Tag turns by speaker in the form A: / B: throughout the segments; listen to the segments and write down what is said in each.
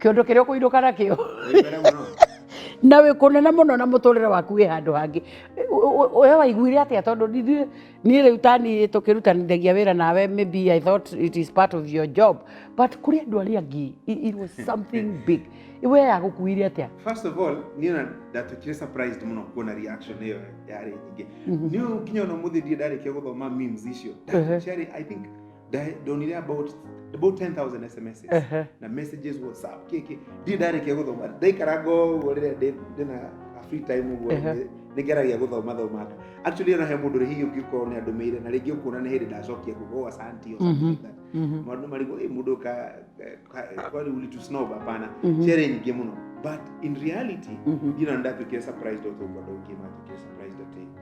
A: kĩondo kĩrĩa ũkũinũka nakĩo na wĩ kũnene mũno na mũtũrĩre waku wĩ handũ hangĩ we waiguire atĩa tondũ ithuĩ niĩ rĩu tani tũkĩrutanithagia wĩra nawe maybe i thought it is part of your job but kũrĩ andũ arĩa angĩ it was something big we yagũkuire atĩa first of all niĩ
B: na ndatwĩkire surprised mũno kuona reaction ĩyo yarĩ nyingĩ niĩ nginya ona mũthĩ ndirĩ ndarĩkia gũthoma memes icio ciarĩ i think Di- ndonire about about 10000 sms Ehe. na messages whatsapp kiki ndi ndarĩkia gũthoma ndaikaranga ũguo rĩrĩa ndĩ- ndĩ na a free time ũguo Ehe. nĩ- nĩngeragia gũthoma thomanga actually ona he mũndũ rĩ hihi ũngĩkorwo nĩ andũmĩire na rĩngĩ ũkuona nĩ hĩndĩ ndacokia kugo asanti or Mhm. something like that Mhm. maũndũ marigwo ĩ mũndũ ka ka- kwani ulitu snob hapana Mhm. ciarĩ nyingĩ mũno but in reality Mhm. ndirona ndatuĩkire surprised ũtũ ũguo andũ aingĩ matuĩkire surprised atĩ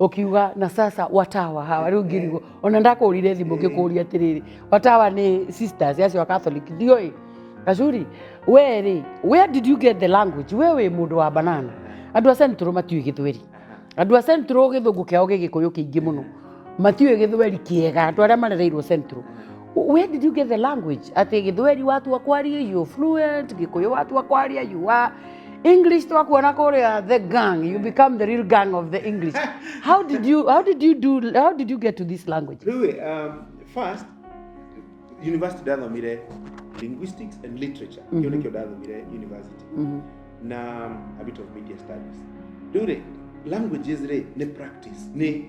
A: ukiuga na sasa watawa hawa riu ngirigwo ona ndakũrire thimũ ngĩkũria atĩrĩrĩ watawa nĩ sisters acio a catholic ndiũĩ gacuri we rĩ where did you get the language we wĩ mũndũ wa banana andũ a central matiũĩ gĩthweri andũ a central gĩthũngũ kĩao gĩgĩkũyũ kĩingĩ mũno matiũĩ gĩthweri kĩega andũ arĩa marereirwo central Where did you get the language? Ati Githweri watu wa kwaria you fluent, Gikuyu watu wa kwaria you are English twakuona kuria the gang, you become the real gang of the English. How did you how did you do how did you get to this language? Rui, um, first,
B: university ndathomire linguistics and literature. Mm -hmm. Kĩu ndathomire university. Mm -hmm. Na a bit of media studies. Rĩu rĩ, languages rĩ, nĩ practice, nĩ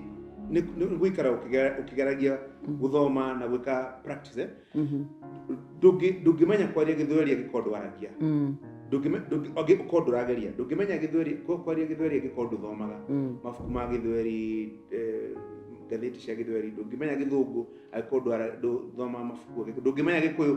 B: nĩ nĩ gũikara ũkĩgeragia guthoma na gwika practice eh? ndungi ndungimenya kwaria githweri angikorwo ndwaragia Mm. ndungime ndungi angikorwo ndurageria ndungimenya githweri kwa- kwaria githweri angikorwo nduthomaga Mm. mabuku ma githweri eh, ngathĩti cia githweri ndũngĩmenya gĩthũngũ angĩkorwo ndwara- ndũthoma mabuku angĩkorwo- ndũngĩmenya gĩkũyũ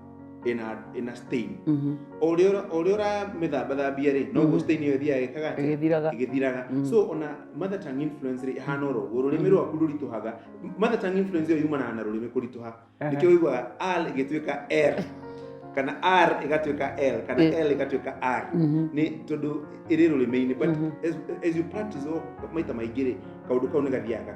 B: ina ina stain Mhm. o ri o ri ora mithamba thambia ri no Mhm. go stain yo thia ikaga Ĩgĩthiraga. igithiraga Mhm. so ona mother tongue influence ri ihana oro go rurimi Mhm. rwaku rurituhaga mother tongue influence yo yumana na rurimi kurituha Aha. nikio wigwa al igituika r kana r igatuika l kana Eh. l igatuika r Mhm. ni tondu iri rurimi-ini but Mhm. as, as you practice o maita maingĩ rĩ kaundu kau nĩ gathiaga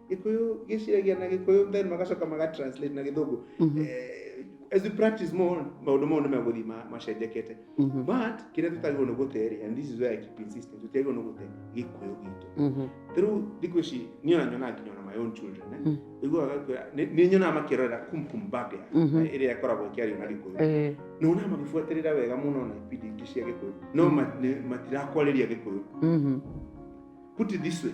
B: gĩkũyũ gĩciragia na gĩkũyũ then magacoka magatranslate na gĩthũngũ Mhm. Eh, as we practice more maũndũ mau nĩ megũthiĩ ma- macenjekete Mhm. but kĩrĩa tũtagĩrĩirwo nĩ gũterĩ and this is where I keep insisting tũtiagĩrĩirwo nĩ gũte gĩkũyũ gitũ Mhm. rĩu thikũ ici niĩ ona nyonaga nginya ona my own children eh? Mm. iguaga kwĩra nĩ- nĩ nyonaga makĩrorera kumkum bag Mhm. ĩrĩa ĩkoragwo ĩkĩario na gĩkũyũ Eh, na ona magĩbuatĩrĩra wega mũno na ibindi ingĩ cia gĩkũyũ no ma- nĩ- matirakwarĩria gĩkũyũ mhm. put it this way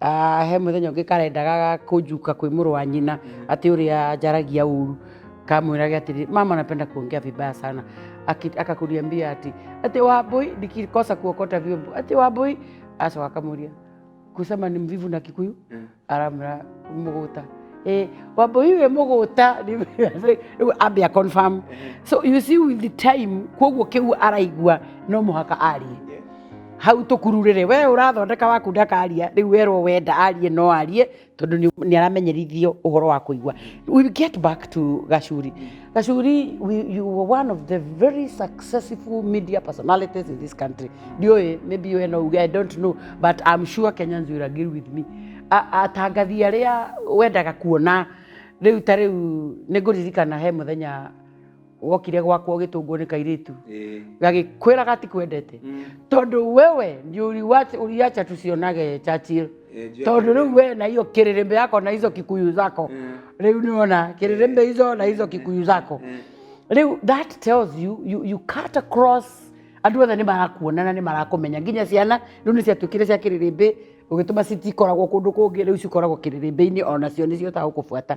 A: Ah, he mũthenya ũngĩ karendaga ga kũnjuka kwĩ mũrũ wa nyina atĩ ũrĩa njaragia ũru kamwĩrage atĩrĩ mama napenda kuongea vibaya sana Aki- akakuniambia ati ati wambui nikikosa kuokota vyombo ati wambui aso akamuria kusema ni mvivu na kikuyu aramra muguta Eh, wambui we muguta ambia confirm so you see with the time koguo kiu araigua no muhaka arie hau tũkururĩrĩ we ũrathondeka waku ndakaria rĩu werwo wenda arie no arie tondũ nĩ- nĩ aramenyerithio ũhoro wa kũigua we'll get back to gacuri gacuri we, you were one of the very successful media personalities in this country ndiũĩ maybe we no uge i don't know but i'm sure kenyans will agree with me A- atangathi arĩa wendaga kuona rĩu ta rĩu nĩ ngũririkana he mũthenya wokire gwakwa ũgĩtũngwo nĩ kairĩtu Eh. gagĩkwĩra gatikwendete Mm. tondũ wewe nĩ ũriwacha- ũriacha tusionage Churchill Eh, juu ya tondũ rĩu we na hiyo kĩrĩrĩmbĩ yako na hizo kikuyu zako Mm. rĩu nĩwona kĩrĩrĩmbĩ hizo na hizo kikuyu zako Mm. rĩu that tells you, you, you cut across andũ othe nĩ marakuona na nĩ marakũmenya nginya ciana rĩu nĩ ciatuĩkire cia kĩrĩrĩmbĩ ũgĩtũma citikoragwo kũndũ kũngĩ rĩu cikoragwo kĩrĩrĩmbĩ-inĩ onacio nĩ ciotagwo kũbuata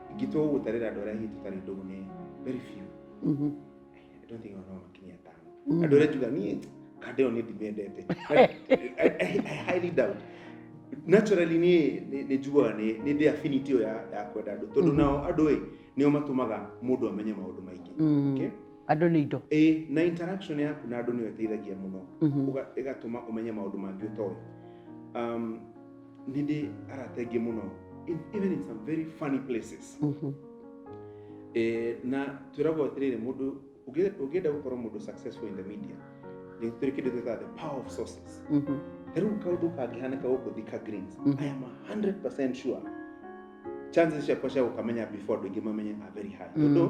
B: Ingĩtua gũgũtarĩra andũ arĩa hihi tũtarĩ ndũgũ nĩ very few. Mhm. I don't think ona makinyia atano. Mhm. Andũ arĩa njuga niĩ kanda ĩyo nĩ ndimendete. I, I, I highly doubt. Naturally niĩ nĩ- nĩ njugaga nĩ nĩ ndĩ affinity ĩyo ya ya kwenda andũ tondũ Mhm. nao andũ ĩ nĩo matũmaga mũndũ amenye maũndũ maingĩ. Mm. Okay? andå nä indo
A: Ĩ na interaction
B: yaku na andũ nĩyo ĩteithagia mũno Mhm. Ũga- ĩgatũma ũmenye maũndũ mangĩ ũtoĩ. Um, nĩ ndĩ arata aingĩ mũno in- even in some very funny places Mhm. Eh, na twĩragwo atĩrĩrĩ mũndũ ũngĩ- ũngĩenda gũkorwo mũndũ successful in the media nĩ tũrĩ kĩndũ twĩtaga the power of sources Mhm. ta rĩu kaũndũ kangĩhanĩka gũkũ thika greens Mhm. i am 100 sure chances ciakwa cia gũkamenya before andũ aingĩ mamenye are very high Mm. tondũ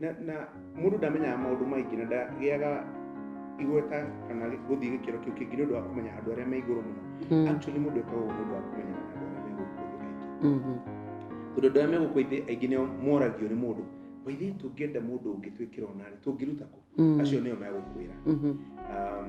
B: na, na mũndũ ndamenyaga maũndũ maingĩ na ndagĩaga igweta kana gũthiĩ gĩkĩro kĩu kĩngĩ nĩ ũndũ wa kũmenya andũ arĩa me igũrũ mũno Mm, actually mũndũ ekaga ũguo nĩ ũndũ wa kũmenya andũ arĩa me gũkũ thĩ aingĩ mhm, tondũ andũ arĩa me gũkũ thĩ aingĩ nĩo moragio nĩ mũndũ maithe tũngĩenda mũndũ ũngĩ twĩkĩra onarĩ tũngĩruta kũ mm, acio nĩo megũkwĩra mhm, Um,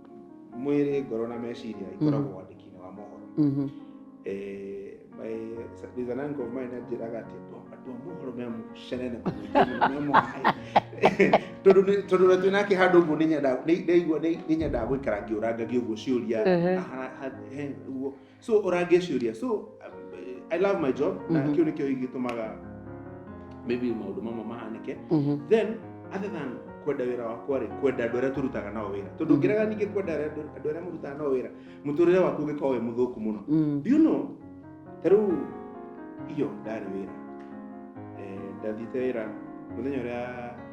B: mwĩrĩ ngoro na meciria ikoragwo mm. wandĩki-inĩ wa mohoro mm-hmm. eh, by the nango mai na njĩraga atĩ andũ a mohoro me mũcene na me mũhaĩ tondũ na twĩna kĩ handũ ũguo nĩnyendaga gũikara ngĩũranga gĩũguo ciũria ũguo so ũrangĩciũria so um, i love my job na Mhm. kĩu nĩkĩo ingĩtũmaga maybe maũndũ mamwe mahanĩke Mhm. then other than kwenda wĩra wakwa rĩ kwenda andũ arĩa tũrutaga nao wĩra tondũ Mhm. ngĩrega ningĩ kwenda arĩa- andũ arĩa mũrutaga nao wĩra mũtũrĩre waku ũngĩkorwo wĩ mũthũku mũno Mm. do you know ta rĩu iyo ndarĩ wĩra Eh, ndathiĩte wĩra mũthenya ũrĩa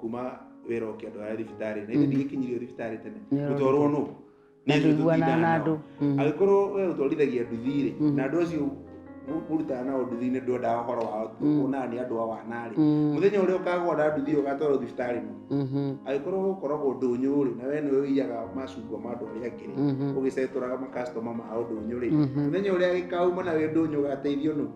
B: kuma wĩra ũkĩandwara thibitarĩ na ithe Mm. ndigĩkinyirio thibitarĩ tene Nĩũrogitwo. gũtwarwo nũ Nĩ ithuĩ Ndaiguana tũtindaga na
A: nao. andũ. Mm. angĩkorwo we
B: ũtwarithagia nduthi-rĩ Mhm. na andũ acio mũ- mũrutaga nao nduthi nĩ ndwendaga ũhoro wao Mm. kuonaga nĩ andũ a wanarĩ Mm. mũthenya ũrĩa ũkagwa na nduthi ũgatwarwo thibitarĩ nũ Mhm. angĩkorwo ũkoragwo ndũnyũ-rĩ na we nĩwe ũiyaga macungwa ma andũ arĩa angĩ-rĩ Mhm. ũgĩcetũraga makastoma ma ũndũnyũ-rĩ Mhm. mũthenya ũrĩa gĩkauma na wĩ ndũnyũ ũgateithio nũ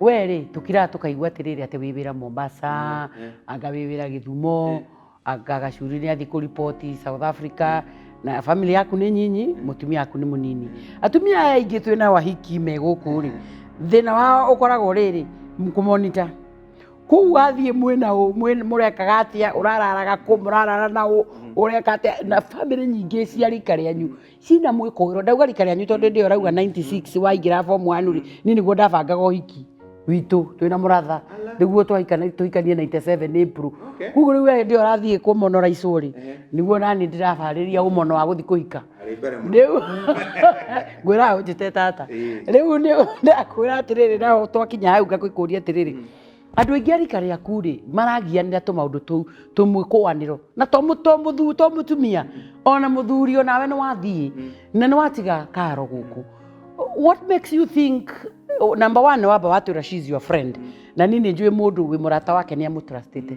A: we rä tå kiraga tå kaigua atä rä rä atä wä wä ra mombasa Eh, anga wä wä ra gä thumo Eh. anga gacuri nä athiä kå ripoti south africa na bamĩrĩ yaku nĩ nyinyi mũtumia waku nĩ mũnini atumia aya aingĩ twĩ na wahiki me gũkũ rĩ thĩna wao ũkoragwo rĩrĩ kũmonita kũu athiĩ mwĩna ũ mwĩ- mũrekaga atĩa ũrararaga kũ mũrarara na ũ ũreka atĩa na bamĩrĩ nyingĩ cia rika rĩanyu cina mwĩkũĩro ndauga rika rĩanyu tondũ ndĩ ũrauga 96 waingĩra form 1 rĩ niĩ nĩguo ndabangaga ũhiki witũ twĩ na mũratha nĩguo twahikana- tũhikanie 97 April Okay. koguo rĩu we ndĩ ũrathiĩ kũmonora icũ rĩ Ehe. nĩguo nani ndĩrabarĩria ũmono wa gũthiĩ kũhika Arĩ mbere mũno. rĩu ngwĩra ũnjĩte tata Ĩĩ. rĩu nĩ ndakwĩra atĩrĩrĩ naho twakinya hau ngakũria atĩrĩrĩ Andũ aingĩ a rika rĩaku rĩ maragianĩra tũmaũndũ tũu tũmwe kũanĩro na to mũ- to mũthu- to mũtumia ona mũthuri onawe nĩ wathiĩ na nĩ watiga karo gũkũ what makes you think oh, number one wamba watwĩra she is your friend na niĩ nĩ njũĩ mũndũ wĩ mũrata wake nĩ amũtrustĩte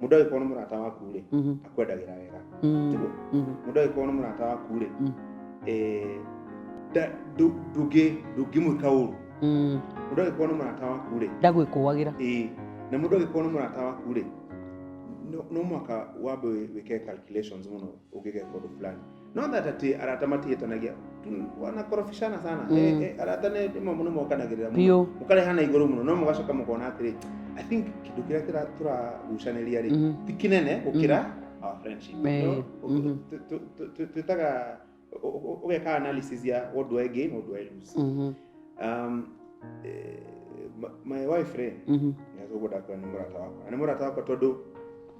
B: mundu agĩkorwo nĩ mũrata waku rĩ Mhm. akwendagĩra wega Mm. Tiguo? Mhm. mundu agĩkorwo nĩ mũrata waku rĩ Mm. eh, nda- ndu- ndũngĩ- ndũngĩmwĩka ũru Mm. mundu agĩkorwo nĩ mũrata waku rĩ ndagwĩkũagĩra ĩĩ
A: na mundu
B: agĩkorwo nĩ mũrata waku rĩ no no mwaka wambe wĩ- wĩke calculations mũno ũngĩgeka ũndũ fulani no that ati arata matihĩtanagia Tu- wanakorobishana sana Mm. Eh, eh, arata nĩ rĩmwe mũno mokanagĩrĩra mũno biũ mũkarehana igũrũ mũno no mũgacoka mũkona atĩrĩ i think kĩndũ kĩrĩa kĩra- tũragucanĩria rĩ Mhm. ti kĩnene gũkĩra our friendship Eh, No? Ũ- mhm. tũ- tũ- tũ- tũ- twĩtaga ũ- ũ- ũgeka analysis ya what do i gain what do i lose Mhm. um, eh, my- my wife rĩ Mhm. nĩatũgũdakwĩra nĩ mũrata wakwa na nĩ mũrata wakwa tondũ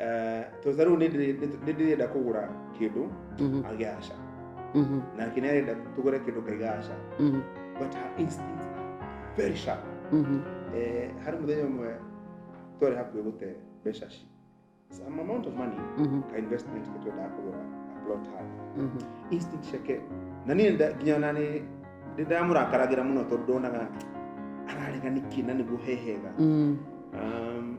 B: Eh, tondũ ta rĩu nĩ ndĩrĩ- nĩ- nĩ ndĩrenda kũgũra kĩndũ Mhm, agĩaca mhm, nake nĩ arenda tũgũre kĩndũ kaigaca mhm, but her instinct are very sharp mhm. Eh, harĩ mũthenya ũmwe twarĩ hakuhĩ gũte mbeca ci some amount of money Mhm, ka investment ke twendaga kũgũra a plot hard mhm. instinct ciake na niĩ nda- nginya ona nĩ nĩ ndamũrakaragĩra mũno tondũ ndonaga ararega nĩkĩ na nĩguo hehega Mm, um,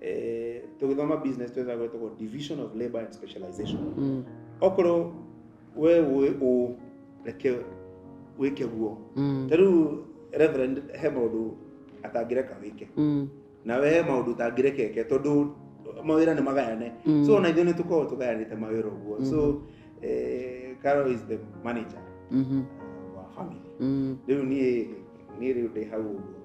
B: eh, tũgĩthoma business twetha gwetagwo division of labor and specialization Mm. okorwo we wĩ ũ reke wĩke guo Mm. ta rĩu reverend he maũndũ atangĩreka wĩke Mm. na we he maũndũ ũtangĩreka eke tondũ mawĩra nĩ magayane Mm. so ona ithuĩ nĩ tũkoragwo tũgayanĩte mawĩra ũguo so eh, Carol is the manager Mhm. wa family Mm. rĩu niĩ niĩ rĩu ndĩ hau ũguo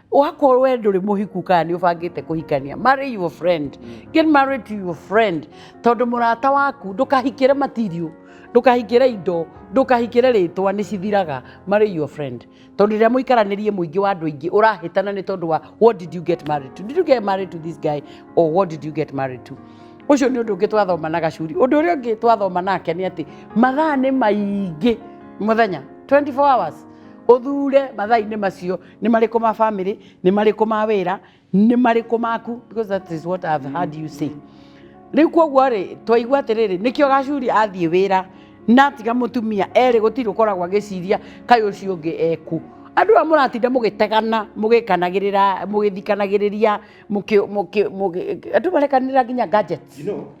A: wakorwo we ndũrĩ mũhiku kana nĩ ũbangĩte kũhikania marry your friend get married to your friend tondũ mũrata waku ndũkahikĩre material ndũkahikĩre indo ndũkahikĩre rĩtwa nĩ cithiraga marry your friend tondũ rĩrĩa mũikaranĩrie mũingĩ wa andũ aingĩ ũrahĩtana nĩ tondũ wa what did you get married to did you get married to this guy or what did you get married to ũcio nĩ ũndũ ũngĩ twathoma na gacuri ũndũ ũrĩa ũngĩ twathoma nake nĩ atĩ mathaa nĩ maingĩ mũthenya 24 hours ũthure mathaa-inĩ macio nĩ marĩkũ ma family nĩ marĩkũ ma wĩra nĩ marĩkũ maku because that is what I've heard you say rĩu kwoguo rĩ twaigua atĩrĩrĩ nĩkĩo gacuri athiĩ wĩra natiga mũtumia erĩ gũtirĩ ũkoragwo agĩciria kaĩ ũcio ũngĩ ekũ andũ aya mũratinda mũgĩtegana mũgĩkanagĩrĩra mũgĩthikanagĩrĩria mũkĩ- mũkĩ- mũgĩ- andũ marekanĩra nginya gadgets you know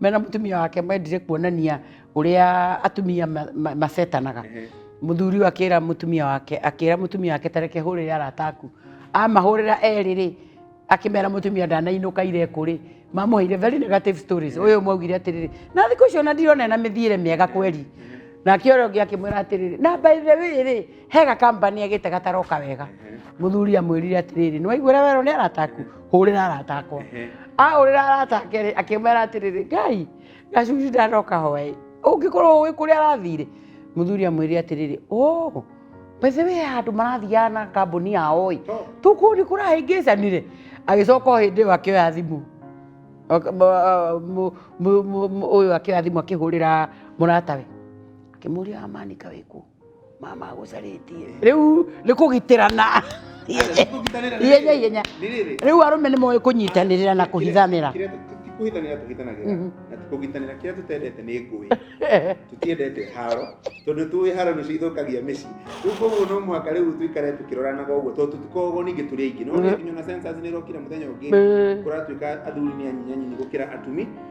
A: mena mutumia wake mendire kuonania uria atumia ma- ma- macetanaga muthuri ũyũ akĩra mutumia wake akĩra mutumia wake tareke hũrĩre arata aku amahũrĩra erĩ rĩ akĩmera mutumia ndanainũka ireku rĩ mamũheire very negative stories ũyũ mwaugire atĩrĩrĩ na thikũ icio ona ndirona ena mĩthiĩre mĩega kweri nake ũrĩa ũngĩ akĩmwĩra atĩrĩrĩ na by the way rĩ he gakambani agĩte gataroka wega mũthuri amwĩrire atĩrĩrĩ nĩ waiguĩra werwo nĩ arata aku hũrĩra arata akwa ahũrĩra arata ake rĩ akĩmera atĩrĩrĩ ngai gacucu ndanoka hoĩ ũngĩkorwo ũĩ kũrĩa arathire mũthuri amwĩrire atĩrĩrĩ o bethe we andũ marathiaga na kambuni yao ĩ tũkuo nĩ kũrahĩngĩcanire agĩcoka o hĩndĩ ĩyo akĩoya thimũ Aka- ma- mu- mu- mu- mu- ũyũ akĩoya thimũ akĩhũrĩra mũratawe akĩmũria amanika wĩkũ mama agũcarĩtie rĩu nĩ kũgitĩrana ihenya ihenya rĩu arũme nĩ moĩ kũnyitanĩrĩra na kũhithanĩra kuhithanira tuhithanagä mhm.
B: na kugitanira kira tutendete ni ngui tutiendete haro tondu tuwi haro nicio ithukagia mici riu koguo no mwaka riu tuikare tukiroranaga uguo tondu tikogo ningi turi aingi no nginya na sensors ni rokira muthenya ungi kuratuika athuri ni anyinyanyi gukira atumi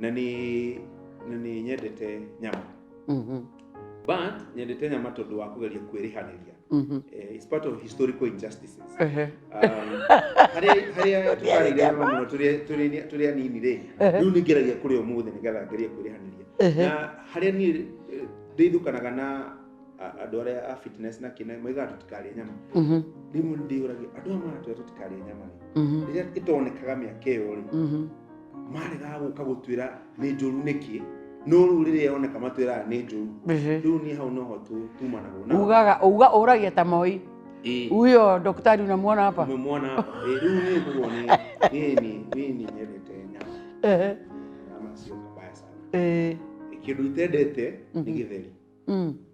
B: na nĩ na nĩ nyendete nyama Mhm. but nyendete nyama tondũ wa kũgeria kwĩrĩhanĩria Mhm. eh, it's part of historical injustices Ehe. harĩa tũkarĩire nyama mũno tũrĩ- tũrĩ- tũrĩ anini rĩ Ehe. rĩu nĩ ngeragia kũrĩa ũmũthĩ nĩgetha ngerie kwĩrĩhanĩria Ehe. na harĩa niĩ eh, ndeithũkanaga na a- andũ arĩa a fitness na kĩna maigaga tũtikarĩe nyama Mhm. rĩmwe nĩ ndĩyũragia andũ aya maratwĩra tũtikarĩe nyama rĩ Mhm. rĩrĩa ĩtonekaga mĩaka ĩyo rĩ Mhm. maregaga gũka gũtwĩra nĩ njũru nĩkĩ no rĩu rĩrĩa yoneka matwĩraga nĩ njũru rĩu niĩ hau noho tumanagwo na ugaga uga ũragia ta moi
A: Ĩĩ. huyo daktari unamwona hapa umemwona hapa Eh, rĩu
B: niĩ kuo nĩ niĩ niĩ niĩ niĩ nyendete nyama Ehe. nyama sio kabaya sana Eh, kĩndũ itendete nĩ gĩtheri mm.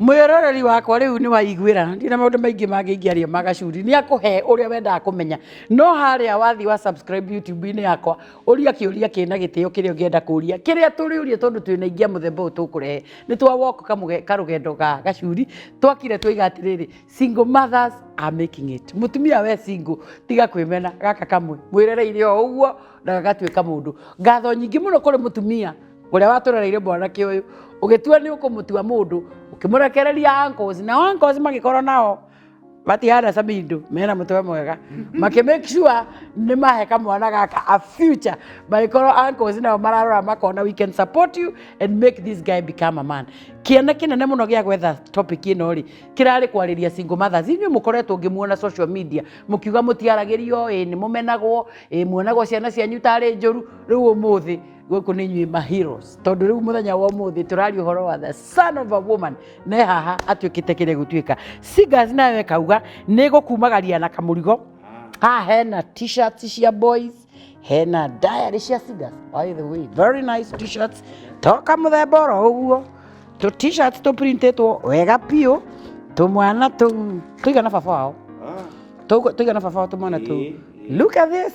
B: Mwĩroreri
A: wakwa rĩu nĩ waiguĩra ndirĩ na maũndũ maingĩ mangĩ ingĩaria ma gacuri nĩ akũhe ũrĩa wendaga kũmenya no harĩa wathiĩ wa subscribe YouTube-inĩ yakwa ũria kĩũria kĩna gĩtĩo kĩrĩa ũngĩenda kũria kĩrĩa tũrĩũria tondũ twĩna ingĩ a mũthemba ũyũ tũkũrehe nĩ twa walk kamũge- karũgendo ga gacuri twakire twoiga atĩrĩrĩ single mothers are making it mũtumia we single tiga kwĩmena gaka kamwe mwĩrereire o ũguo na gagatuĩka mũndũ ngatho nyingĩ mũno kũrĩ mũtumia ũrĩa watũrereire mwanake ũyũ ũgĩtua nĩ ũkũmũtua mũndũ ũkĩmũrekereria ankos nao ankos magĩkorwo nao matihana samindo mena mũtwe mwega makĩ make sure nĩ mahe kamwana gaka a future magĩkorwo ankos nao mararora makona we can support you and make this guy become a man kĩana kĩnene mũno gĩa gwetha topic ĩno rĩ kĩrarĩ kwarĩria single mothers inyuĩ mũkoretwo ngĩmuona social media mũkiuga mũtiaragĩrio ĩ nĩ mũmenagwo ĩ muonagwo ciana cianyu tarĩ njũru rĩu ũmũthĩ gũkũ nĩ inyuĩ ma heroes tondũ rĩu mũthenya wa ũmũthĩ tũraria ũhoro wa the son of a woman ne haha atuĩkĩte kĩrĩa gũtuĩka singers nawe kauga nĩ gũkumagaria na kamũrigo haha hena t-shirts cia boys hena diary cia singers by the way very nice t-shirts toka mũthemba oro ũguo tũ t-shirts tũ printĩtwo wega biũ tũmwana tũu tũigana baba wao Tũgu- tũigana baba wao tũmwana tũu Ĩĩ, ĩĩ. look at this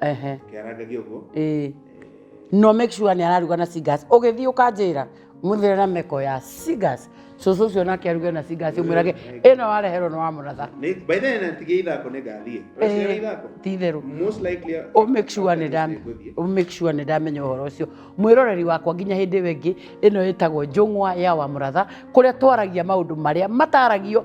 A: ehe
B: kĩarangagia ũguo ĩĩ
A: no make sure nĩ araruga na cigas ũgĩthiĩ ũkanjĩra mũthere na meko ya cigas cũcũ ũcio nake aruge na cigas ũmwĩrage ĩno wareherwo nĩ wa mũratha Nĩ- by the way natigia
B: ithako nĩ ngathiĩ Ũraciara ithako ti itherũ most likely Ũ make sure nĩ ndam-
A: Nĩngũthiĩ. ũ make sure nĩ ndamenya ũhoro ũcio mwĩroreri wakwa nginya hĩndĩ ĩyo ĩngĩ ĩno ĩtagwo njũng'wa ya wa mũratha kũrĩa twaragia maũndũ marĩa mataragio